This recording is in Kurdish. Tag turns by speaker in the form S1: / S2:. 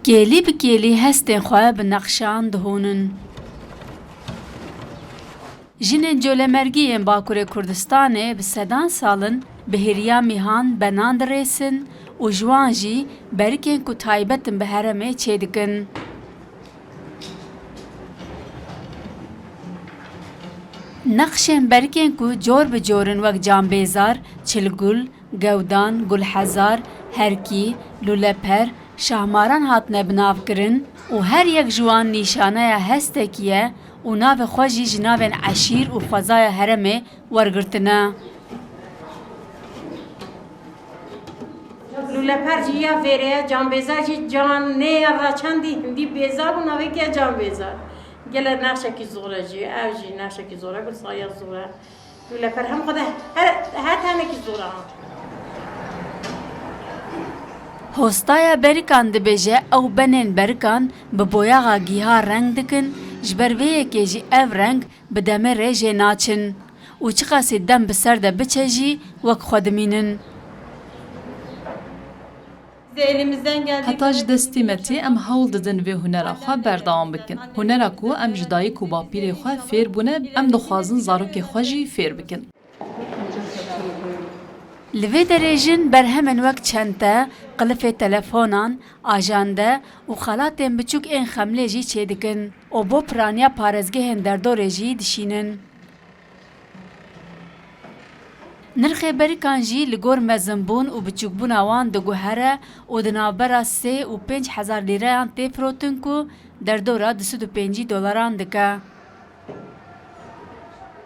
S1: Kêlî bi kêlî hestên xwe bi nexşan dihonin. Jinên colemergî yên Bakurê Kurdistanê bi sedan sal in bi hêriya mîhan benan dirêsin û ji wan jî berikên ku taybet in bi heremê çê dikin. Nexşên berikên ku cor bi cor in wek cambêzar, çilgul, Gewdan, Gulhezar, Herkî, Luleper, Şahmaran hatine bi nav kirin û her yek ji wan nîşaneya hestekî ye û navê xwe jî ji navên eşîr û xwezaya heremê wergirtine.
S2: Luleper jî ya vêrê ye, Canbêzar jî can nê ya ra çendî hindî bêzar û navê kê ye Canbêzar. Gele nexşekî zor e jî, ew jî nexşekî zor e, bi saya zor e. Tu li berhev xwe de her demekî zor
S1: e ha. Hostaya berikan dibêje ew benên berikan bi boyaxa gîha reng dikin, ji ber vê yekê jî ev reng bi demê rê jê naçin û çiqasî dem bi ser de biçe jî wek xwe dimînin.
S3: Heta ji destê me tê em hewl didin vê hunera xwe berdewam bikin. Hunera ku em ji dayik û bapîrê xwe fêr bûne em dixwazin zarokê xwe jî fêr bikin.
S1: Li vê derê jin berhemên wek çente, qilifê telefonan, ajande û xelatên biçûk ên xemlê jî çêdikin û bo piraniya parêzgehên derdorê jî dişînin. Nirxê berikan jî li gor mezinbûn û biçûkbûna wan diguhere û di navbera sê û pênc hezar lîreyan tê firotin ku derdora du sed û pêncî dolaran dike.